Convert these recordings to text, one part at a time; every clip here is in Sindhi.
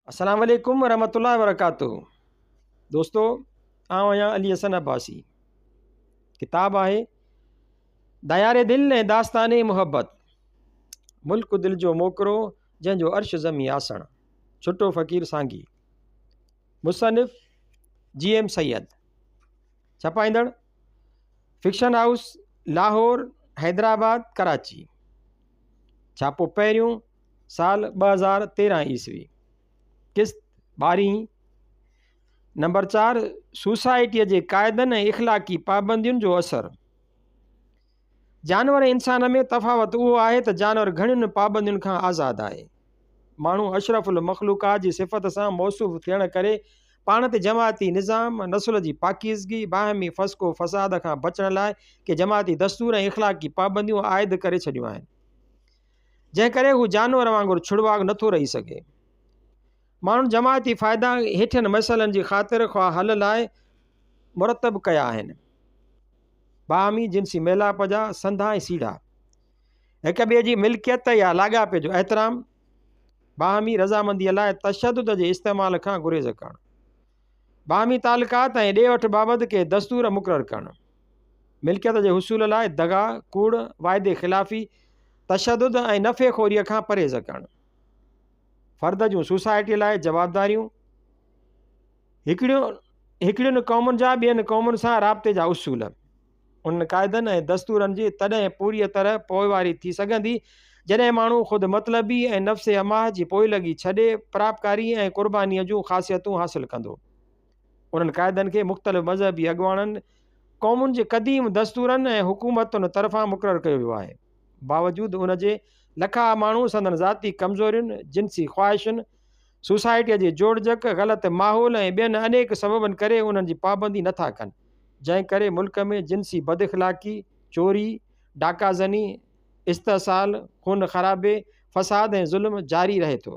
السلام عليڪم ورحمة الله وبرڪاته دوستو آئون آهيان علي حسن عباسي ڪتاب آهي ديار دل ۽ داستان محبت ملڪ دل جو موڪرو جنهن جو عرش زمي آسڻ ڇٽو فقير سانگي مصنف جي ايم سيد ڇپائيندڙ فڪشن هائوس لاهور حيدرآباد ڪراچي ڇاپو پهريون سال ٻه هزار تيرهن عيسوي قسط ٻارهين نمبر چار سوسائٽيء جي قاعدن ۽ اخلاقي پابندين جو اثر جانور انسان ۾ تفاوت اهو آهي ته جانور گهڻين پابندين کان آزاد آهي ماڻهو اشرف المخلوقات جي صفت سان موصوف ٿيڻ ڪري پاڻ تي جماعتي نظام نسل جي پاڪيزگي باهمي فسق و فساد کان بچڻ لاء ڪي جماعتي دستور ۽ اخلاقي پابنديون عائد ڪري ڇڏيون آهن جنهن ڪري هو جانور وانگر ڇڙواڳ نٿو رهي سگهي. ماڻهن جماعتي فائدا هيٺين مسئلن جي خاطر خواه حل لاء مرتب ڪيا آهن. باهمي جنسي ميلاپ جا سنڌا ۽ سيڙها، هڪ ٻئي جي ملڪيت يا لاڳاپي جو احترام، باهمي رضامنديء لاء تشدد جي استعمال کان گريز ڪرڻ، باهمي تعلقات ۽ ڏي وٺ بابت ڪي دستور مقرر ڪرڻ، ملڪيت جي حصول لاء دغا، ڪوڙ، واعدي خلافي، تشدد ۽ نفعي خوريء کان پرهيز ڪرڻ، فرد جون سوسائٽيء لاء جوابداريون، هڪڙيون هڪڙين قومن جا ٻين قومن سان رابطي جا اصول. انهن قاعدن ۽ دستورن جي تڏهن پوريء طرح پوئواري ٿي سگهندي، جڏهن ماڻهو خود مطلبي ۽ نفس حماه جي پوئلڳي ڇڏي، پراپڪاري ۽ قربانيء جون خاصيتون حاصل ڪندو. انهن قاعدن کي مختلف مذهبي اڳواڻن، قومن جي قديم دستورن ۽ حڪومتن طرفان مقرر ڪيو ويو آهي. باوجود ان جي، لکا ماڻهو سندن ذاتي ڪمزورين، جنسي خواهشن، سوسائٽيء جي جوڙجڪ، غلط ماحول ۽ ٻين انيڪ سببن ڪري انهن جي پابندي نه ٿا ڪن، جنهن ڪري ملڪ ۾ جنسي بداخلاقي، چوري، ڊاڪا زني، استحصال، خون خرابي، فساد ۽ ظلم جاري رهي ٿو.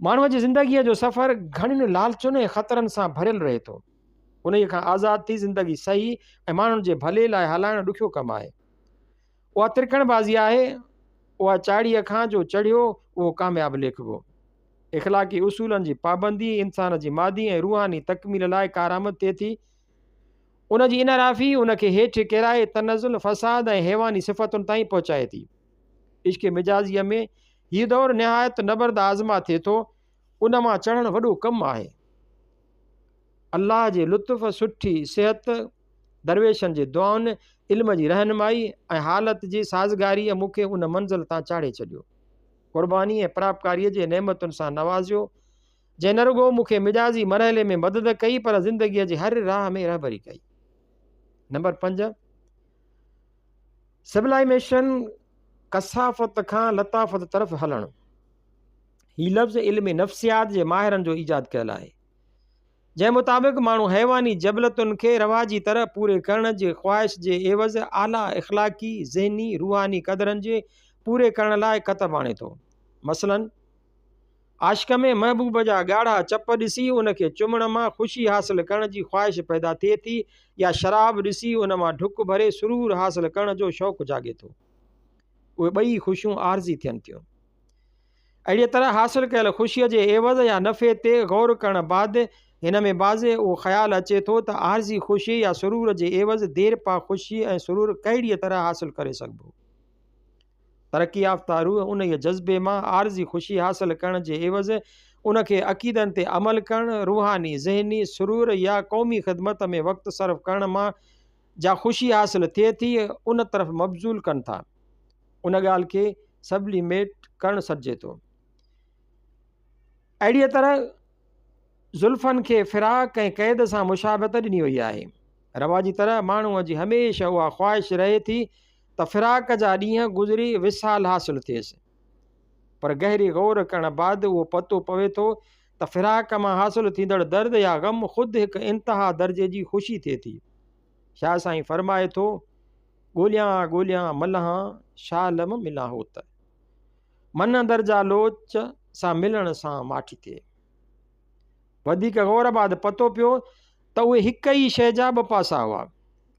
ماڻهوء جي زندگيء جو سفر گهڻين لالچن ۽ خطرن سان ڀريل رهي ٿو. انهيء کان آزاد ٿي زندگي صحيح ۽ ماڻهن جي ڀلي لاء هلائڻ ڏکيو ڪم آهي. اها ترڪڻ بازي آهي، اها چاڙهيء کان جو چڙهيو اهو ڪامياب ليکبو. اخلاقي اصولن جي پابندي انسان جي مادي ۽ روحاني تڪميل لاء ڪارآمد ٿئي ٿي. ان جي انحرافي ان کي هيٺ ڪيرائي تنزل، فساد ۽ حيواني صفتن تائين پهچائي ٿي. عشق مجازيء ۾ هيء دور نهايت نبرد آزما ٿئي ٿو، ان مان چڙهڻ وڏو ڪم آهي. الله جي لطف، سٺي صحت، درويشن جي دعائن، علم جي رهنمائي ۽ حالت جي سازگاريء مون کي ان منزل تان چاڙهي ڇڏيو. قرباني ۽ پراپڪاريء جي نعمتن سان نوازيو، جنهن نه رڳو مون کي مجازي مرحلي ۾ مدد ڪئي پر زندگيء جي هر راهه ۾ رهبري ڪئي. نمبر پنج، سبلائيميشن، ڪثافت کان لطافت طرف هلڻ. هي لفظ علم نفسيات جي ماهرن جو ايجاد ڪيل آهي، جنهن مطابق ماڻهو حيواني جبلتن کي رواجي طرح پوري ڪرڻ جي خواهش جي عيوض اعليٰ اخلاقي، ذهني، روحاني قدرن جي پوري ڪرڻ لاء ڪتب آڻي ٿو. مثلاً، عاشق ۾ محبوب جا ڳاڙها چپ ڏسي ان کي چمڻ مان خوشي حاصل ڪرڻ جي خواهش پيدا ٿئي ٿي يا شراب ڏسي ان مان ڍڪ ڀري سرور حاصل ڪرڻ جو شوق جاڳي ٿو. اهي ٻئي خوشيون عارضي ٿين ٿيون. اهڙيء طرح حاصل ڪيل خوشيء جي عيوض يا نفعي تي غور ڪرڻ بعد هن ۾ بعضي اهو خيال اچي ٿو ته عارضي خوشي يا سرور جي عيوض ديرپا خوشي ۽ سرور ڪهڙيء طرح حاصل ڪري سگهبو؟ ترقي يافته روح انهيء جذبي مان عارضي خوشي حاصل ڪرڻ جي عيوض ان کي عقيدن تي عمل ڪرڻ، روحاني، ذهني، سرور يا قومي خدمت ۾ وقت صرف ڪرڻ مان جا خوشي حاصل ٿئي ٿي، ان طرف مبذول ڪن ٿا. ان ڳالهه کي سبليميٽ ڪرڻ سڏجي ٿو. اهڙيء طرح زلفن کي فراق ۽ قيد سان مشابهت ڏني وئي آهي. رواجي طرح ماڻهوء جي هميشه اها خواهش رهي ٿي ته فراق جا ڏينهن گذري وصال حاصل ٿئيس. پر گهري غور ڪرڻ بعد اهو پتو پوي ٿو ته فراق مان حاصل ٿيندڙ درد يا غم خود هڪ انتها درجي جي خوشي ٿئي ٿي. شاهه سائين فرمائي ٿو، ڳوليان ها ڳوليان ملهان، شاهه لم ملان هو ته. من اندر جا لوچ، سا ملڻ سان ماٺي ٿئي. وڌيڪ غور بعد پتو پيو ته اهي هڪ ئي شيء جا ٻه پاسا هئا.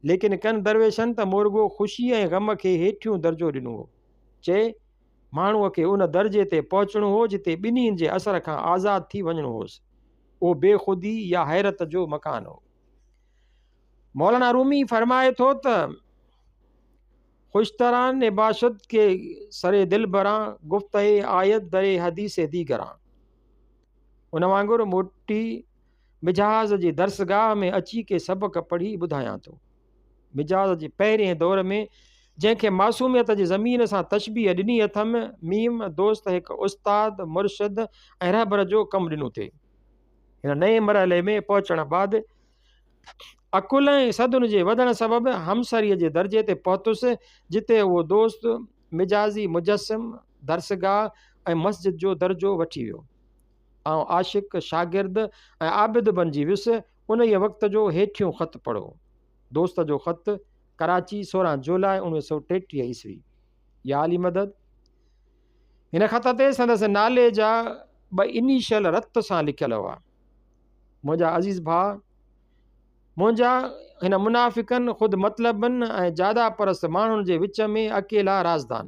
ليڪن ڪن درويشن ته مورڳو خوشي ۽ غم کي هيٺيون درجو ڏنو هو. چي، ماڻهوء کي ان درجي تي پهچڻو هو جتي ٻنهين جي اثر کان آزاد ٿي وڃڻو هوس. اهو بي خودي يا حيرت جو مڪان هو. مولانا رومي فرمائي ٿو ته خوشتران نباشد ڪي سر دلبران گفته آيت در حديث ديگران ان وانگر موٽي مجاز جي درسگاهه ۾ اچي ڪي سبق پڙهي ٻڌايان ٿو مجاز جي پهرين دور ۾ جنهن کي معصوميت جي زمين سان تشبيح ڏني اٿم ميم دوست هڪ استاد مرشد ۽ رهبر جو ڪم ڏنو ٿي هن نئين مرحلي ۾ پهچڻ بعد عقل ۽ صدن جي وڌڻ سبب همسريء جي درجي تي پهتس، جتي اهو دوست مجازي مجسم، درسگاهه ۽ مسجد جو درجو وٺي ويو. آئون عاشق، شاگرد ۽ عابد بنجي ويس. انهيء وقت جو هيٺيون خط پڙهو. دوست جو خط، ڪراچي، سورهن جولاء اوڻويهه سؤ ٽيٽيهه عيسوي. يا علي مدد. هن خط تي سندس نالي جا ٻه انيشل رت سان لکيل هئا. منهنجا عزيز ڀاء، منهنجا هن منافقن، خود مطلبن ۽ جادا پرست ماڻهن جي وچ ۾ اڪيلا رازدان.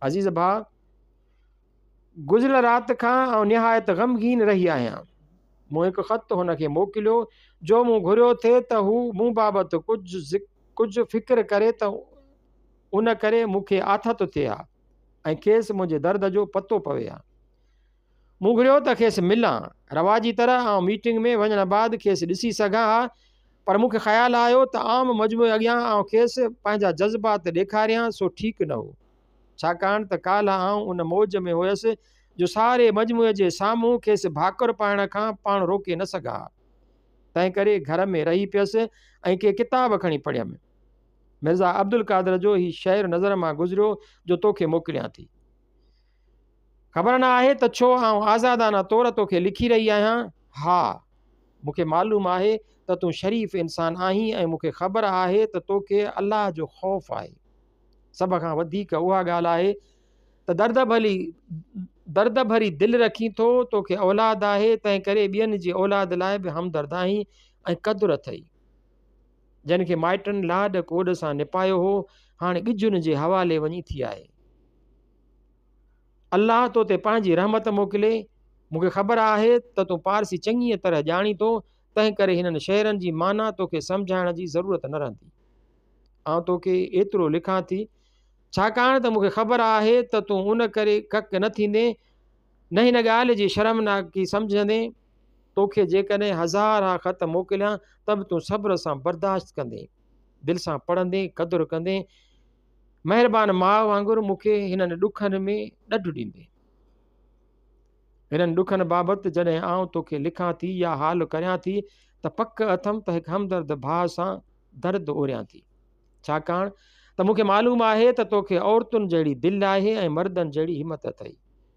عزيز ڀاء، گذريل رات کان آئون نهايت غمگين رهي آهيان. مون هڪ خط هن کي موڪليو، جو مون گهريو ٿي ته هو مون بابت ڪجهه فڪر ڪري ته ان ڪري مون کي آٿت ٿئي ها ۽ کيس منهنجي درد جو پتو پوي ها. مون گهريو ته کيس ملان. رواجي طرح آئون ميٽنگ ۾ وڃڻ بعد کيس ڏسي سگهان ها پر مون کي خيال آيو ته عام مجموعي اڳيان آئون کيس پنهنجا جذبات ڏيکاريان سو ٺيڪ نه هو ڇاڪاڻ ته ڪالهه آئون ان موج ۾ هئس جو ساري مجموعي جي سامهون کيس ڀاڪر پائڻ کان پاڻ روڪي نه سگهان ها. تنهن ڪري گهر ۾ رهي پيس ۽ ڪي ڪتاب کڻي پڙهيم. مرزا عبدالقادر جو هي شعر نظر مان گذريو جو توکي موڪليان ٿي. خبر نه آهي ته ڇو آئون آزادانه طور توکي لکي رهي آهيان. ها! مون کي معلوم آهي ته تون شريف انسان آهين ۽ مون کي خبر آهي ته توکي الله جو خوف آهي. سڀ کان وڌيڪ اها ڳالهه آهي ته درد ڀلي درد ڀري دل رکين ٿو، توکي اولاد آهي، تنهنڪري ٻين جي اولاد لاء به همدرد آهين ۽ قدر اٿئي. جنھن کي مائٽن لاڏ ڪوڏ سان نپايو ھو، ھاڻ ڳجھن جي حوالي وڃي ٿي آھي. الله تو تي پنھنجي رحمت موڪلي. مون کي خبر آھي ته تون پارسي چڱيء طرح ڄاڻين ٿو، تنھن ڪري ھنن شعرن جي معنيٰ تو کي سمجھائڻ جي ضرورت نه رھندي. آئون تو کي ايترو لکان ٿي، ڇاڪاڻ ته مون کي خبر آھي ته تون ان ڪري ڪڪ نه ٿيندين، نه ھن ڳالھه جي شرمناڪي سمجھندين، تو کي جيڪڏهن هزار ها خط موڪليان ته به تون صبر سان برداشت ڪندين، دل سان پڙهندين، قدر ڪندين، مهربان ماء وانگر مون کي هنن ڏکن ۾ ڏڍ ڏيندين. هنن ڏکن بابت جڏهن آئون تو کي لکان ٿي يا حال ڪريان ٿي ته پڪ اٿم ته هڪ همدرد ڀاء سان درد اوريان ٿي. ڇاڪاڻ ته مون کي معلوم آهي ته تو کي عورتن جهڙي دل آهي ۽ مردن جهڙي همت اٿئي.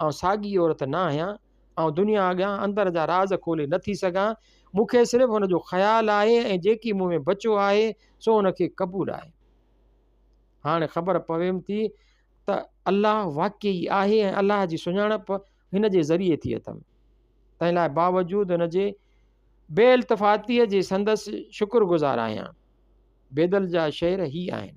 آئون ساڳي عورت نه آهيان. آئون دنيا اڳيان اندر جا راز کولي نه ٿي سگهان. مون کي صرف ان جو خيال آهي ۽ جيڪي مون ۾ بچيو آهي سو ان کي قبول آهي. هاڻي خبر پويم ٿي ته الله واقعي ئي آهي ۽ الله جي سڃاڻپ هن جي ذريعي ٿي اٿم. تنهن لاء باوجود ان جي بي التفاتيء جي سندس شڪر گذار آهيان. بيدل جا شعر هي آهن.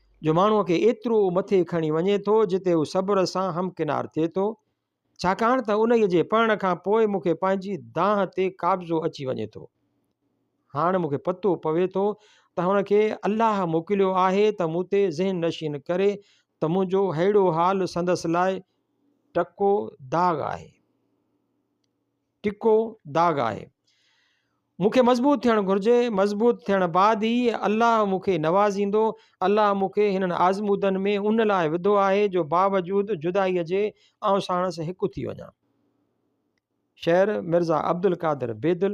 جو ماڻهوء کي ايترو مٿي کڻي وڃي ٿو جتي هو صبر سان همڪنار ٿئي ٿو، ڇاڪاڻ ته انهيء جي پڙهڻ کان پوء مون کي پنهنجي دانهن تي قابضو اچي وڃي ٿو. هاڻ مون کي پتو پوي ٿو ته هن کي الله موڪليو آهي ته مون تي ذهن نشين ڪري ته منهنجو ههڙو حال سندس لاء ٽڪو داغ آهي. ٽڪو داغ آهي. مون کي مضبوط ٿيڻ گهرجي، مضبوط ٿيڻ بعد ئي الله مون کي نوازيندو، الله مون کي هنن آزمودن ۾ ان لاء وڌو آهي جو باوجود جدائيء جي آئون ساڻس هڪ ٿي وڃان. شعر، مرزا عبدالقادر بيدل.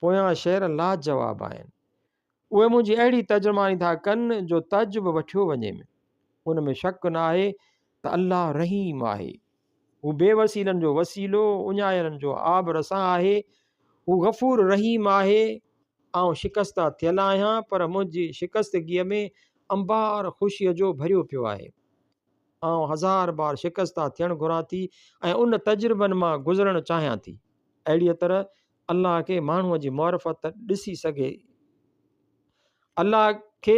پويان شعر لاجواب آهن. اهي منهنجي اهڙي ترجماني ٿا ڪن جو تج به وٺيو وڃي م ان ۾ شڪ نه آهي ته الله رحيم آهي. هو بي وسيلن جو وسيلو، اڃايلن جو آب رسان آهي. هو غفور رحيم آهي. آئون شڪسته ٿيل آهيان پر منهنجي شڪستگيء ۾ انبار خوشيء جو ڀريو پيو آهي. آئون هزار بار شڪسته ٿيڻ گهران ٿي ۽ ان تجربن مان گذرڻ چاهيان ٿي. اهڙيء طرح الله کي ماڻهوء جي معرفت ڏسي سگهي الله کي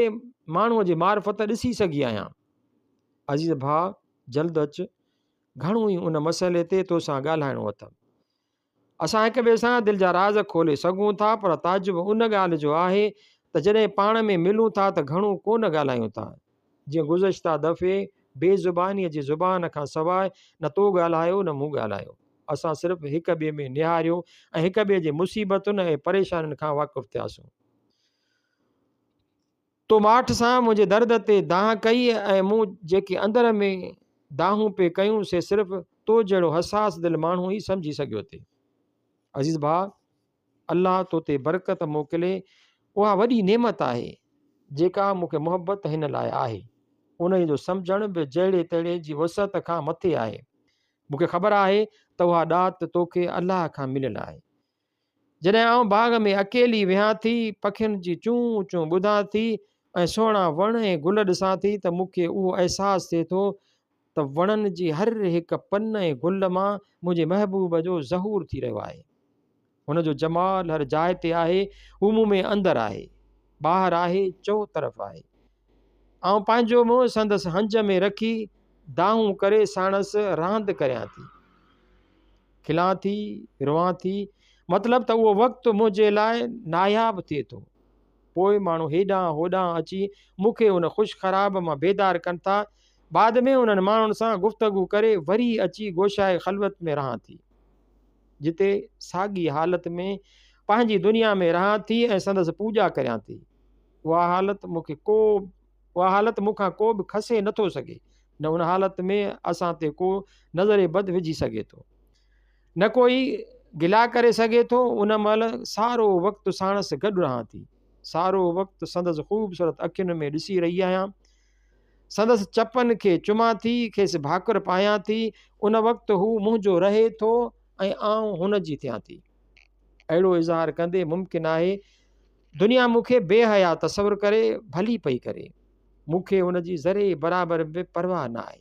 ماڻهوء جي معرفت ڏسي سگهي آهيان عزيز ڀاء جلد اچ گهڻو ئي ان مسئلي تي توسان ڳالهائڻو اٿم اسان هڪ ٻئي سان دل جا راز کولي سگهون ٿا پر تعجب ان ڳالهه جو آهي ته جڏهن پاڻ ۾ ملون ٿا ته گهڻو ڪونه ڳالهايون ٿا جيئن گذشته دفعي بي زبانيء جي زبان کان سواء نه تو ڳالهايو نه مون ڳالهايو. اسان صرف هڪ ٻئي ۾ نهاريو ۽ هڪ ٻئي جي مصيبتن ۽ پريشانين کان واقف ٿياسون. تو ماٺ سان منهنجي درد تي دانهن ڪئي ۽ مون جيڪي اندر ۾ دانهون پئي ڪيون سي صرف تو جهڙو حساس دل ماڻهو ئي سمجهي سگهيو ٿي. عزيز ڀاء! الله تو تي برڪت موڪلي اها وڏي نعمت آهي جيڪا مون کي محبت هن لاء آهي انهي جو سمجهڻ به جهڙي تهڙي جي وسعت کان مٿي آهي مون کي خبر آهي ته اها ڏات تو کي الله کان مليل آهي جڏهن آئون باغ ۾ اڪيلي ويهان ٿي پکين جي چون چون ٻڌان ٿي ۽ سهڻا وڻ ۽ گل ڏسان ٿي ته مون کي اهو احساس ٿئي ٿو ته وڻن جي هر هڪ پن ۽ گل مان منهنجي محبوب جو ظهور ٿي رهيو آهي. هن جو جمال هر جاء تي آهي، هو مون ۾ اندر آهي، ٻاهر آهي، چوطرف آهي. آئون پنهنجو منهن سندس هنج ۾ رکي دانهون ڪري ساڻس راند ڪريان ٿي. کلان ٿي، روئان ٿي، مطلب ته اهو وقت منهنجي لاء ناياب ٿئي ٿو. پوء ماڻهو هيڏانهن هوڏانهن اچي مون کي ان خوش خراب مان بيدار ڪن ٿا. بعد ۾ انهن ماڻهن سان گفتگو ڪري وري اچي گوشائي خلوت ۾ رهان ٿي. جتي ساڳي حالت ۾ پنهنجي دنيا ۾ رهان ٿي ۽ سندس پوڄا ڪريان ٿي. اها حالت مون کي ڪو اها حالت مون کان ڪو به کسي نٿو سگهي، نه ان حالت ۾ اسان تي ڪو نظر بد وجهي سگهي ٿو. نه ڪوئي گلا ڪري سگهي ٿو، ان مهل سارو وقت ساڻس گڏ رهان ٿي. سارو وقت سندس خوبصورت اکين ۾ ڏسي رهي آهيان. سندس چپن کي چمان ٿي، کيس ڀاڪر پايان ٿي. ان وقت هو منهنجو رهي ٿو ۽ آئون هن جي ٿيان ٿي. اهڙو اظهار ڪندي ممڪن آهي دنيا مون کي بي حيا تصور ڪري ڀلي پئي ڪري. مون کي ان جي ذري برابر به پرواهه نه آهي.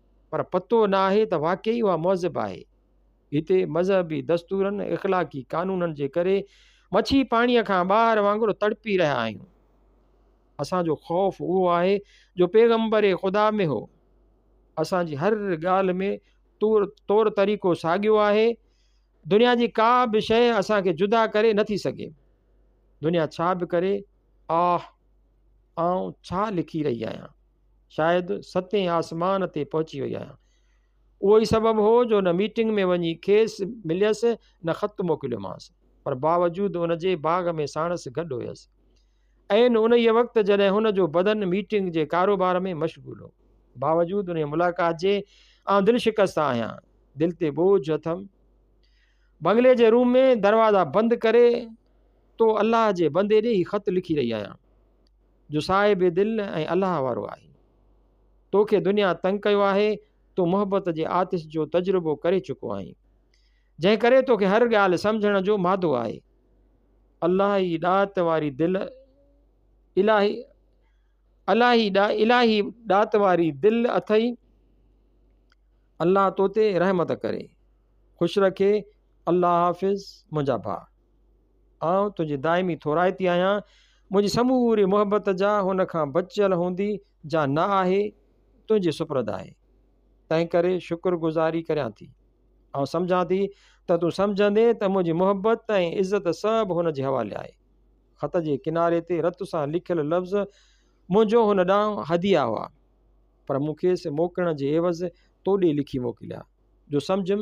پر پتو نه آهي ته واقعي اها مهذب آهي. هتي مذهبي دستورن، اخلاقي قانونن جي ڪري مڇي پاڻيء کان ٻاهر وانگر تڙپي رهيا آهيون. اسان جو خوف اهو آهي جو پيغمبر خدا ۾ هو. اسان جي هر ڳالهه ۾ طور طور طريقو ساڳيو آهي. دنيا جي ڪا به شيء اسان کي جدا ڪري نه ٿي سگهي. دنيا ڇا به ڪري، آه! آئون ڇا لکي رهي آهيان؟ شايد ستين آسمان تي پهچي وئي آهيان. اهو ئي سبب هو جو نه ميٽنگ ۾ وڃي کيس مليس نه خط موڪليومانس پر باوجود ان جي باغ ۾ ساڻس گڏ هيس. عين انهيء وقت جڏهن هن جو بدن ميٽنگ جي ڪاروبار ۾ مشغول هو. باوجود انهيء ملاقات جي آئون دل شڪسته آهيان. دل تي ٻوجهه اٿم. بنگلي جي روم ۾ دروازا بند ڪري تو الله جي بندي ڏي هي خط لکي رهي آهيان. جو صاحب دل ۽ الله وارو آهين. تو کي دنيا تنگ ڪيو آهي، تون محبت جي آتش جو تجربو ڪري چڪو آهين، جنهن ڪري تو کي هر ڳالهه سمجهڻ جو مادو آهي. الله ئي ڏات واري دل الاهي الاهي ڏا الاهي ڏات واري دل اٿئي الله تو تي رحمت ڪري خوش رکي الله حافظ منهنجا ڀاء آئون تنهنجي دائمي ٿورائتي آهيان، منهنجي سموري محبت جا هن کان بچيل هوندي جا نه آهي، تنهنجي سپرد آهي. تنهنڪري شڪر گذاري ڪريان ٿي. آئون سمجهان ٿي ته تون سمجهندين ته منهنجي محبت ۽ عزت سڀ هن جي حوالي آهي. خط جي ڪناري تي رت سان لکيل لفظ منهنجو هن ڏانهن هديه هئا، پر مون کيس موڪلڻ جي عيوض تو ڏي لکي موڪليا، جو سمجهيم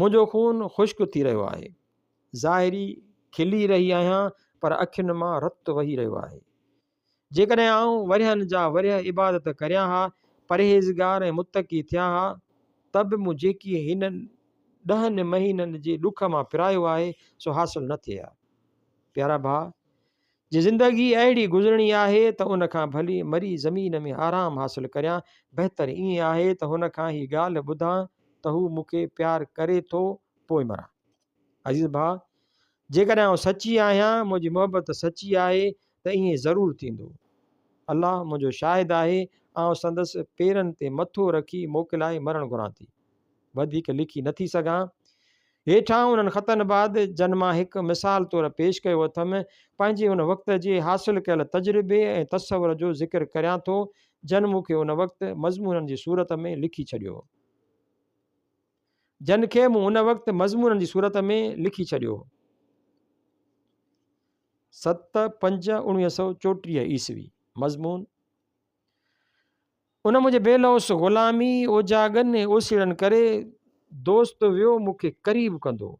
منهنجو خون خشڪ ٿي رهيو آهي. ظاهري کلي رهي آهيان پر اکين مان رت وهي رهيو آهي. جيڪڏهن آئون ورهين جا ورهيه عبادت ڪريان ها، پرهيزگار ۽ متقي ٿيان ها ته به مون جيڪي هن ڏهن مهينن جي ڏک مان پرايو آهي سو حاصل نه ٿئي ها. پيارا ڀاء! جي زندگي اهڙي گذرڻي آهي ته ان کان ڀلي مري زمين ۾ آرام حاصل ڪريان، بهتر ائين آهي ته هن کان هي ڳالهه ٻڌان ته هو مون کي پيار ڪري ٿو پوء مران. عزيز ڀاء! جيڪڏهن آئون سچي آهيان، منهنجي محبت سچي آهي ته ائين ضرور ٿيندو. الله منهنجو شاهد آهي، آئون سندس پيرن تي مٿو رکي موڪلائي مرڻ گهران ٿي. وڌيڪ لکي نٿي سگهان. هيٺان انهن خطن بعد جن مان هڪ مثال طور پيش ڪيو اٿم، پنهنجي ان وقت جي حاصل ڪيل تجربي ۽ تصور جو ذڪر ڪريان ٿو، جن مون کي ان وقت مضمونن جي صورت ۾ لکي ڇڏيو. جن کي مون ان وقت مضمونن جي صورت ۾ لکي ڇڏيو. ست پنج اڻويهه سؤ چوٽيهه عيسوي مضمون ان منهنجي بي لوث غلامي اوجاڳن ۽ اوسيڙن ڪري دوست ويو مون کي قريب ڪندو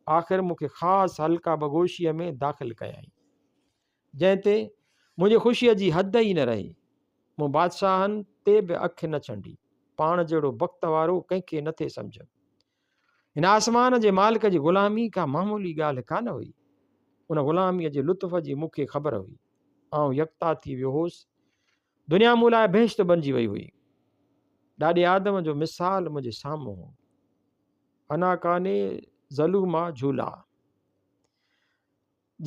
آخر مون کي خاص حلقه بگوشيء ۾ داخل ڪيائين جنهن تي منهنجي خوشيء جي حد ئي نه رهي مون بادشاهن تي به اک نه ڇنڊي پاڻ جهڙو بخت وارو ڪنهن کي نٿي سمجهيم هن آسمان جي مالڪ جي غلامي ڪا معمولي ڳالهه ڪانه هئي. ان غلاميء جي لطف جي مون کي خبر هئي. آئون يڪتا ٿي ويو هوس. دنيا مون لاء بهشت بنجي وئي هئي. ڏاڏي آدم جو مثال منهنجي سامهون هو. انا ڪاني ظلوما جھولا.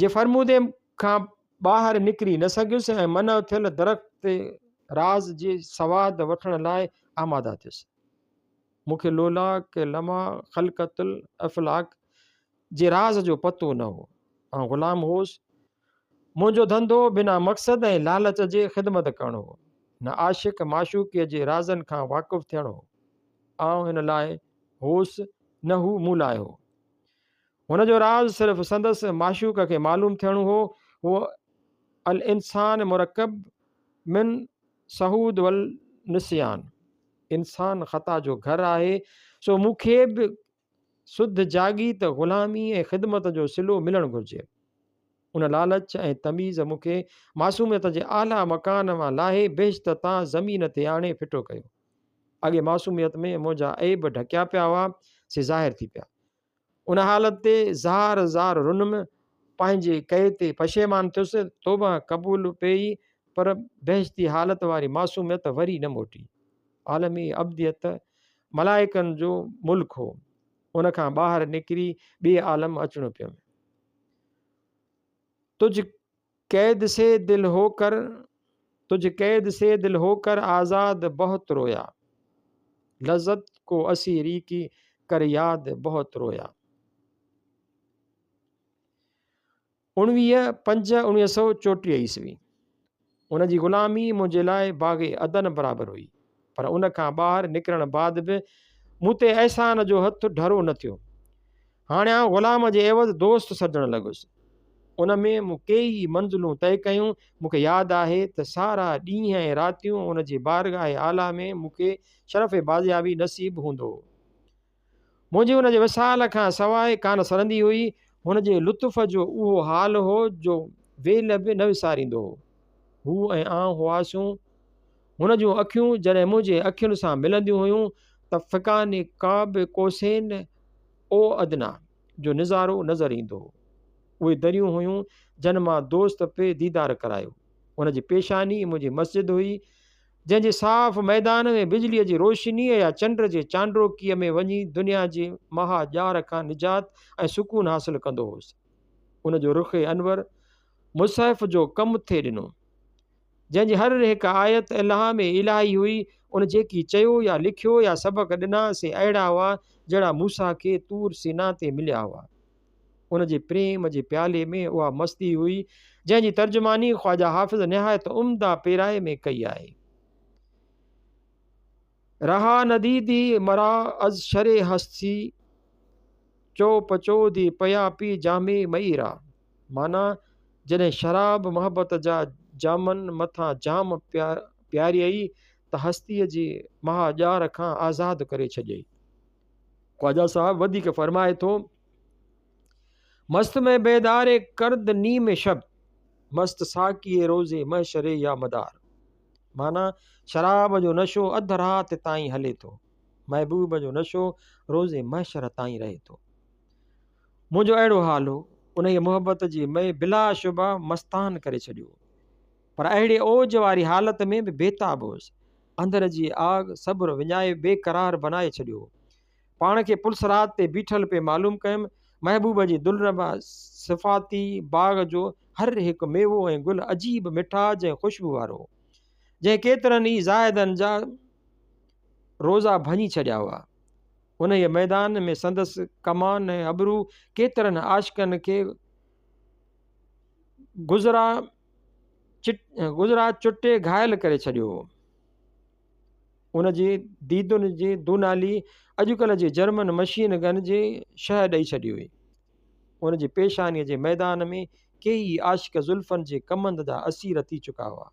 جي فرمودي کان ٻاهر نڪري نه سگهيس ۽ منع ٿيل درخت تي راز جي سواد وٺڻ لاء آماده ٿيس. مون کي لولا ڪي لمع خلقت الافلاق جي راز جو پتو نه هو. آئون غلام هوس. منهنجو ڌنڌو بنا مقصد ۽ لالچ جي خدمت ڪرڻ هو. نه عاشق معشوقيء جي رازن کان واقف ٿيڻ هو. آئون هن لاء هوس نه هو مون لاء هو. هن جو راز صرف سندس معشوق کي معلوم ٿيڻو هو، هو الانسان مرڪب من سهود والنسيان، انسان خطا جو گهر آهي، سو مون کي به سڌ جاڳي ته غلامي ۽ خدمت جو صلو ملڻ گهرجي. ان لالچ ۽ تميز مون کي معصوميت جي اعليٰ مڪان مان لاهي بهشت تان زمين تي آڻي ڦٽو ڪيو. اڳي معصوميت ۾ منهنجا عيب ڍڪيا پيا هئا، سي ظاهر ٿي پيا. ان حالت تي زار زار رنم، پنهنجي ڪئي تي پشيمان ٿيس، توبه قبول پيئي، پر بهشتي حالت واري معصوميت وري نه موٽي. عالم ابديت ملائڪن جو ملڪ هو، ان کان ٻاهر نڪري ٻئي عالم اچڻو پيم. تجھ قيد سي دل هو ڪر تجھ قيد سي دل هو ڪر آزاد بهت رويا لذت ڪو اسيري ڪي ڪر ياد بهت رويا اڻويهه پنج اڻويهه سؤ چوٽيهه عيسوي ان جي غلامي منهنجي لاء باغ عدن برابر هئي پر ان کان ٻاهر نڪرڻ بعد به مون تي احسان جو هٿ ڍرو نه ٿيو. هاڻي آئون غلام جي عيوض دوست سڏڻ لڳس. ان ۾ مون ڪيئي منزلون طئي ڪيون. مون کي ياد آهي ته سارا ڏينهن ۽ راتيون ان جي بارگاهه اعليٰ ۾ مون کي شرف بازيابي نصيب هوندو هو. منهنجي هن جي وصال کان سواء ڪانه سرندي هئي. هن جي لطف جو اهو حال هو جو ويل به نه وساريندو هو. هو ۽ آئون هئاسون. هن جون اکيون جڏهن منهنجي اکين سان ملنديون هيون ته فقاني قاب قوسين او ادنيٰ جو نظارو نظر ايندو هو. اهي دريون هيون جن مان دوست پئي ديدار ڪرايو. هن جي پيشاني منهنجي مسجد هئي. جنهن جي صاف ميدان ۾ بجليء جي روشنيء يا چنڊ جي چانڊوڪيء ۾ وڃي دنيا جي مها ڄار کان نجات ۽ سڪون حاصل ڪندو هوس. ان جو رخ انور مصحف جو ڪم ٿي ڏنو. جنهن جي هر هڪ آيت الهام الاهي هئي، ان جيڪي چيو يا لکيو يا سبق ڏنا سي اهڙا هئا جهڙا موسيٰ کي طور سينا تي مليا هئا. ان جي پريم جي پيالي ۾ اها مستي هئي، جنهن جي ترجماني خواجه حافظ نهايت عمده پيرائي ۾ ڪئي آهي. رها نديدي مرا از شرع هستي، چو پچو دي پيا پي جام مئي را. معنيٰ، جڏهن شراب محبت جا جامن مٿان جام پياريئي ته هستيء جي مها ڄار کان آزاد ڪري ڇڏيئي. خواجه صاحب وڌيڪ فرمائي ٿو. مست ۾ بيدار ڪرد نيم شب مست ساقي روز محشر يا مدار معنيٰ شراب جو نشو اڌ رات تائين هلي ٿو محبوب جو نشو روز محشر تائين رهي ٿو منهنجو اهڙو حال هو انهيء محبت جي مئي بلا شبه مستان ڪري ڇڏيو پر اهڙي اوج واري حالت ۾ به بيتاب هوس اندر جي آڳ صبر وڃائي بي قرار بنائي ڇڏيو. پاڻ کي پلصراط تي بيٺل پئي معلوم ڪيم. محبوب جي دلربا صفاتي باغ جو هر هڪ ميوو ۽ گل عجيب مٺاج ۽ خوشبو وارو هو. جنهن ڪيترن ئي زاهدن جا روزا ڀڃي ڇڏيا هئا. انهيء ميدان ۾ سندس ڪمان ۽ ابرو ڪيترن عاشقن کي گذرا گجرات چٽي گهائل ڪري ڇڏيو هو. ان جي ديدن جي دونالي اڄڪلهه جي جرمن مشين گن جي شهه ڏئي ڇڏي هئي. ان جي پيشانيء جي ميدان ۾ ڪيئي ئي عاشق زلفن جي ڪمند جا اسير ٿي چڪا هئا.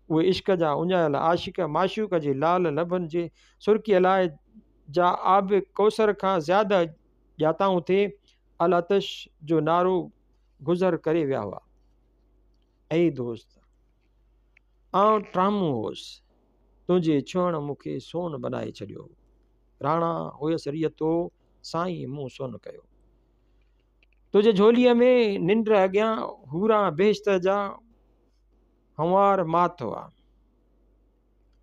اهي عشق جا اڃايل عاشق معشوق جي لال لبن جي سرڪيء لاء جا آب ڪوثر کان زياده ڄاتائون ٿي العطش جو نعرو گذر ڪري ويا هئا. اي دوست! آئون ٽرامو هوس، تنهنجي ڇهڻ مون کي سون بنائي ڇڏيو هو. راڻا هيس ريتو، سائين مون سون ڪيو. تنهنجي جهوليء ۾ ننڊ اڳيان حوران بهشت جا هنوار مات هئا.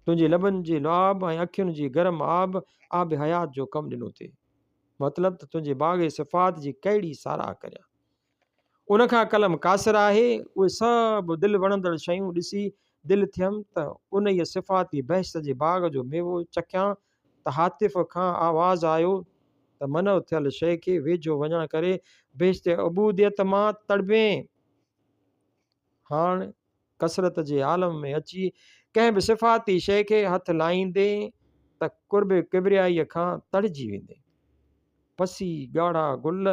تنهنجي لبن جي لعاب ۽ اکين جي گرم آب، آب حيات جو ڪم ڏنو ٿي. مطلب ته تنهنجي باغ صفات جي ڪهڙي ساراهه ڪريان. ان کان قلم قاصر آهي، اهي سڀ دل وڻندڙ شيون ڏسي دل ٿيم ته انهيء صفاتي بهشت جي باغ جو ميوو چکيان ته هاتف کان آواز آيو ته منع ٿيل شيء کي ويجهو وڃڻ ڪري بهشت عبوديت مان تڙبين. هاڻ ڪثرت جي عالم ۾ اچي ڪنهن به صفاتي شيء کي هٿ لائيندين ته قرب ڪبريائيء کان تڙجي ويندين. پسي ڳاڙها گل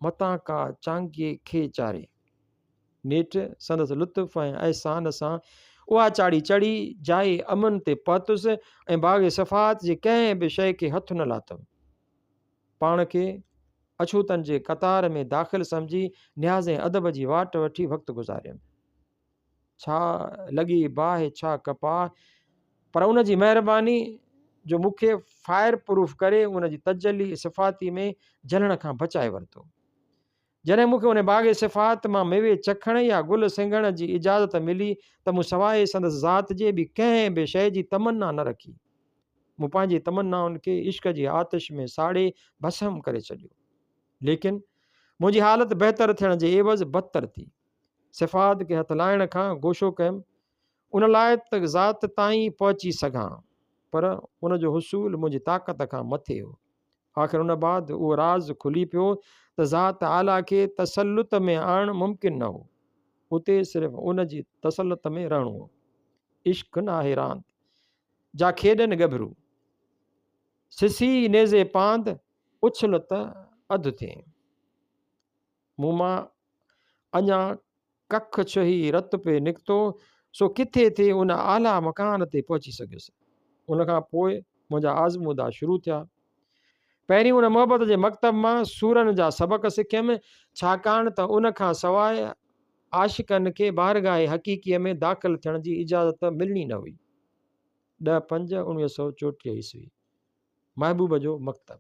متان ڪا چانگي کي چاري. نيٺ سندس لطف ۽ احسان سان اها چاڙهي چڙهي جاء امن تي پهتس ۽ باغ صفات جي ڪنهن به شيء کي هٿ نه لاٿم. پاڻ کي اڇوتن جي قطار ۾ داخل سمجهي نياز ۽ ادب جي واٽ وٺي وقت گذاريم. ڇا لڳي باهه ڇا ڪپاهه پر ان جي مهرباني جو مون کي فائر پروف ڪري ان جي تجلي صفاتي ۾ جلڻ کان بچائي ورتو. جڏهن مون کي ان باغ صفات مان ميوي چکڻ يا گل سنگهڻ جي اجازت ملي ته مون سواء سندس ذات جي ٻي ڪنهن به شيء جي تمنا نه رکي. مون پنهنجي تمنائن کي عشق جي آتش ۾ ساڙي ڀسم ڪري ڇڏيو. ليڪن منهنجي حالت بهتر ٿيڻ جي عيوض بدتر ٿي. صفات کي هٿ لائڻ کان گوشو ڪيم ان لاء ته ذات تائين پهچي سگهان پر ان جو حصول منهنجي طاقت کان مٿي هو. آخر ان بعد اهو راز کلي پيو ته ذات اعليٰ کي تسلط ۾ آڻڻ ممڪن نه هو. اتي صرف ان جي تسلط ۾ رهڻو هو. عشق نه آهي راند، جا کيڏن ڳڀرو. سسي نيزي پاند، اڇل ته اڌ ٿئين. مون مان اڃا ڪک ڇهي رت پئي نڪتو، سو ڪٿي ٿي ان اعليٰ مڪان تي پهچي سگهيس. ان کان پوء منهنجا آزمودا شروع ٿيا. پهرين ان محبت جي مڪتب مان سورن جا سبق سکيم، ڇاڪاڻ ته ان کان سواء عاشقن کي بارگاهه حقيقيء ۾ داخل ٿيڻ جي اجازت ملڻي نه هئي. ڏهه پنج اڻويهه سؤ چوٽيهه عيسوي. محبوب جو مڪتب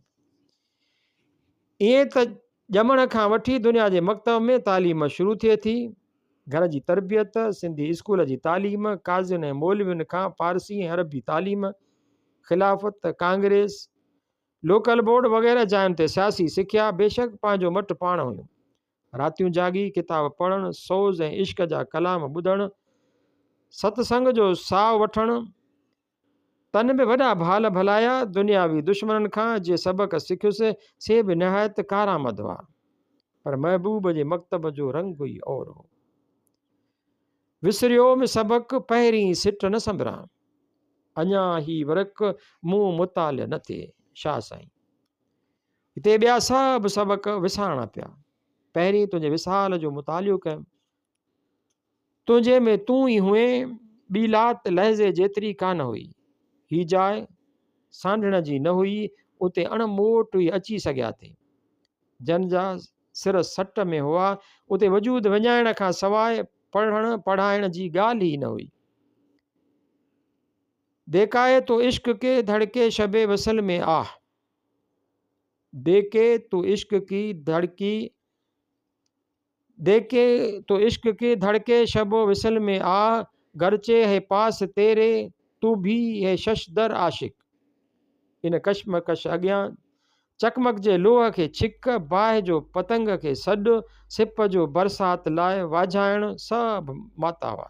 ائين ته ڄمڻ کان وٺي دنيا جي مڪتب ۾ تعليم شروع ٿئي ٿي گهر جي تربيت سنڌي اسڪول جي تعليم قاضين ۽ مولوين کان فارسي ۽ عربي تعليم خلافت ڪانگريس لوڪل بورڊ وغيره جاين تي سياسي سکيا بيشڪ پنهنجو مٽ پاڻ هيون راتيون جاڳي ڪتاب پڙهڻ سوز ۽ عشق جا ڪلام ٻڌڻ ست سنگ جو ساهه وٺڻ تن به وڏا ڀال ڀلايا، دنياوي دشمنن کان جي سبق سکيس سي به نهايت ڪارآمد هئا. پر محبوب جي مڪتب جو رنگ ئي اور هو. وسريوم سبق پهرين سٽ نه سنبران. اڃا هي ورق مون مطالع نه ٿئي. شاهه سائين. هتي ٻيا سڀ سبق وسارڻا پيا. پهرين تنهنجي وصال جو مطالعو ڪيم. تنهنجي ۾ تون ئي هئين، ٻي لات لحظي جيتري ڪانه هئي. هي جاء سانڍڻ جي نه هئي، اتي اڻ موٽ ئي اچي سگهيا ٿي. جن جا سر سٽ ۾ هئا، اتي وجود وڃائڻ کان سواء پڙهڻ پڙهائڻ جي ڳالهه ئي نه هئي. ديکائي تو عشق ڪي ڌڙڪي شب وصل ۾ آه. ديکي تو عشق ڪي ڌڙڪي. ديکي تو عشق ڪي ڌڙڪي شب و وصل مي آ گرچه هي پاس تيري تو ڀي هي شش در عاشق ان ڪشمڪش اڳيان چڪمڪجي لوهه کي ڇڪ باهه جو پتنگ کي سڏ سپ جو برسات لاء واجهائڻ سڀ ماتاوا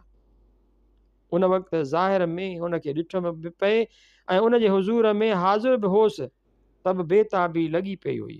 ان وقت ظاهر ۾ ان کي ڏٺم به پئي ۽ ان جي حضور ۾ حاضر به هوس ته به بيتابي لڳي پئي هئي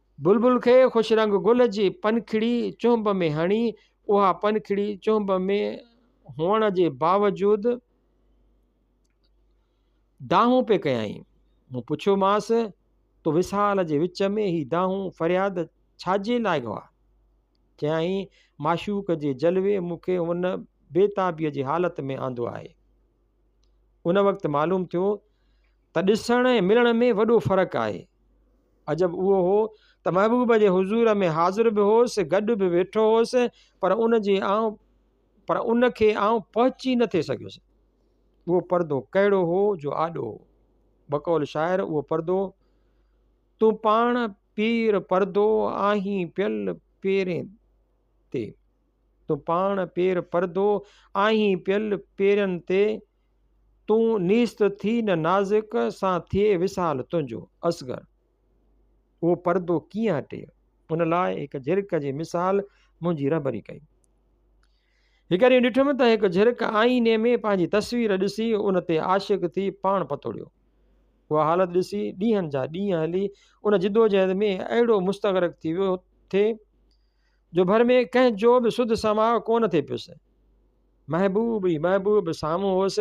بلبل کي خوش رنگ گل جي پنکڙي چهنب ۾ هڻي، اها پنکڙي چهنب ۾ هئڻ جي باوجود دانهون پئي ڪيائين. مون پڇيومانس، تو وصال جي وچ ۾ هي دانهون فرياد ڇاجي لاء گوا؟ چيائين، معشوق جي جلوي مون کي هن بيتابيء جي حالت ۾ آندو آهي. ان وقت معلوم ٿيو ته ڏسڻ ۽ ملڻ ۾ وڏو فرق آهي. عجب اهو هو ته محبوب جي حضور ۾ حاضر به هوس، گڏ به ويٺو هوس، پر ان جي آئون پر ان کي آئون پهچي نه ٿي سگهيس. اهو پردو ڪهڙو هو جو آڏو هو. بقول شاعر اهو پردو تون پاڻ پير پردو آهين پيل پيرين تي تون پاڻ پير پردو آهين پيل پيرن تي تون نيست ٿي نه نازڪ سان ٿئي وصال تنهنجو. اصغر، اهو پردو ڪيئن هٽي؟ ان لاء هڪ جهرڪ جي مثال منهنجي رهبري ڪئي. هڪ ڏينهن ڏٺم ته هڪ جهرڪ آئيني ۾ پنهنجي تصوير ڏسي ان تي عاشق ٿي پاڻ پتوڙيو. اها حالت ڏسي ڏينهن جا ڏينهن هلي ان جدوجهد ۾ اهڙو مستغرق ٿي ويو ٿي جو ڀر ۾ ڪنهن جو به سڌ سماء ڪونه ٿي پيس محبوب ئي محبوب سامهون هوس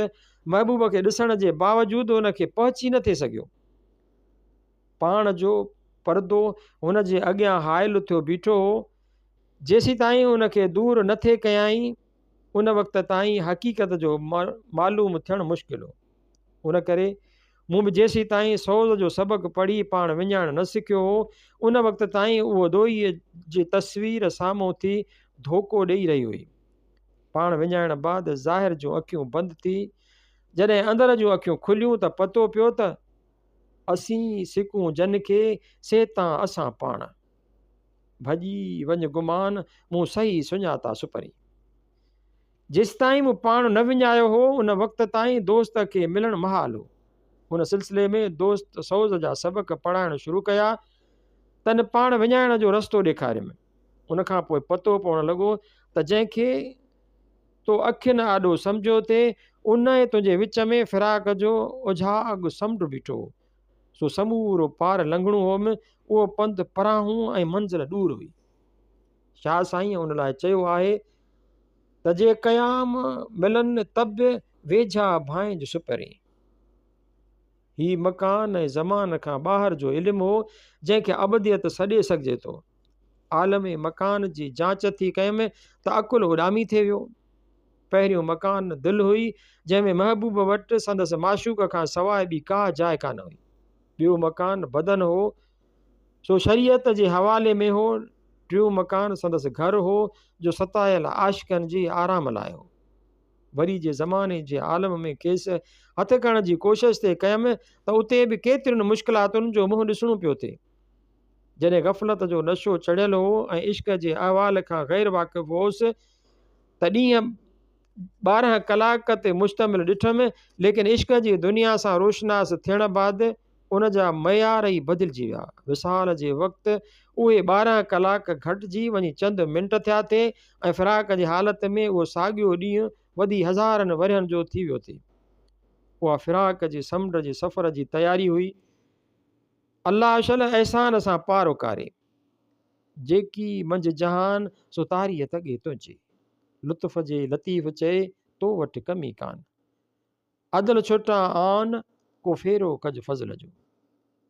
محبوب کي ڏسڻ جي باوجود ان کي پهچي نه ٿي سگهيو پاڻ جو پردو هن جي اڳيان حائل ٿيو بيٺو هو جيسي تائين ان کي دور نه ٿي ڪيائين ان وقت تائين حقيقت جو معلوم ٿيڻ مشڪل هو ان ڪري مون به جيسيتائين سوز جو سبق پڙهي پاڻ وڃائڻ نه سکيو هو، ان وقت تائين اهو دوئيء جي تصوير سامهون اٿي ڌوڪو ڏيئي رهي هئي. پاڻ وڃائڻ بعد ظاهر جون اکيون بند ٿي، جڏهن اندر جون اکيون کليون ته پتو پيو ته، اسين سڪون جن کي، سي تان اسان پاڻ. ڀڄي وڃ گمان، مون صحيح سڃاتا سپرين. جيستائين مون پاڻ نه وڃايو هو ان وقت تائين دوست کي ملڻ محال هو هن سلسلي ۾ دوست سوز جا سبق پڙهائڻ شروع ڪيا تن پاڻ وڃائڻ جو رستو ڏيکاريم ان کان پوء پتو پوڻ لڳو ته جنهن کي تو اکين آڏو سمجهو تي ان ۽ تنهنجي وچ ۾ فراق جو اجهاڳ سمنڊ بيٺو هو سو سمورو پار لنگهڻو هوم اهو پنڌ پراهون ۽ منزل ڏور هئي شاهه سائين ان لاء چيو آهي تجي قيام ملن طبع ويجها ڀانء جو سپرين. هي مڪان ۽ زمان کان ٻاهر جو علم هو، جنهن کي ابديت سڏي سگهجي ٿو. عالم مڪان جي جاچ ٿي ڪيم ته عقل اڏامي ٿي ويو. پهريون مڪان دل هئي، جنهن ۾ محبوب وٽ سندس معشوق کان سواء ٻي ڪا جاء ڪانه هئي. ٻيو مڪان بدن هو. ڇو شريعت جي حوالي ۾ هو، ٽيون مڪان سندس گهر هو جو ستايل عاشقن جي آرام لاء هو. وري جي زماني جي عالم ۾ کيس هٿ ڪرڻ جي ڪوشش ٿي ڪيم ته اتي به ڪيترين مشڪلاتن جو منهن ڏسڻو پيو ٿي. جڏهن غفلت جو نشو چڙهيل هو ۽ عشق جي احوال کان غير واقف هوس ته ڏينهن ٻارهن ڪلاڪ تي مشتمل ڏٺم ليڪن عشق جي دنيا سان روشناس ٿيڻ بعد ان جا معيار ئي بدلجي ويا. وصال جي وقت اهي ٻارهن ڪلاڪ گهٽجي وڃي چند منٽ ٿيا ٿي ۽ فراق جي حالت ۾ اهو ساڳيو ڏينهن وڌي هزارن ورهين جو ٿي ويو ٿي. اها فراق جي سمنڊ جي سفر جي تياري هئي. الله اشل احسان سان پار اڪاري. جيڪي منجهه جهان سو تاريء تڳي تنهنجي. لطف جي لطيف چئي تو وٽ ڪمي ڪان. عدل ڇٽان آن، ڪو ڦيرو ڪج فضل جو.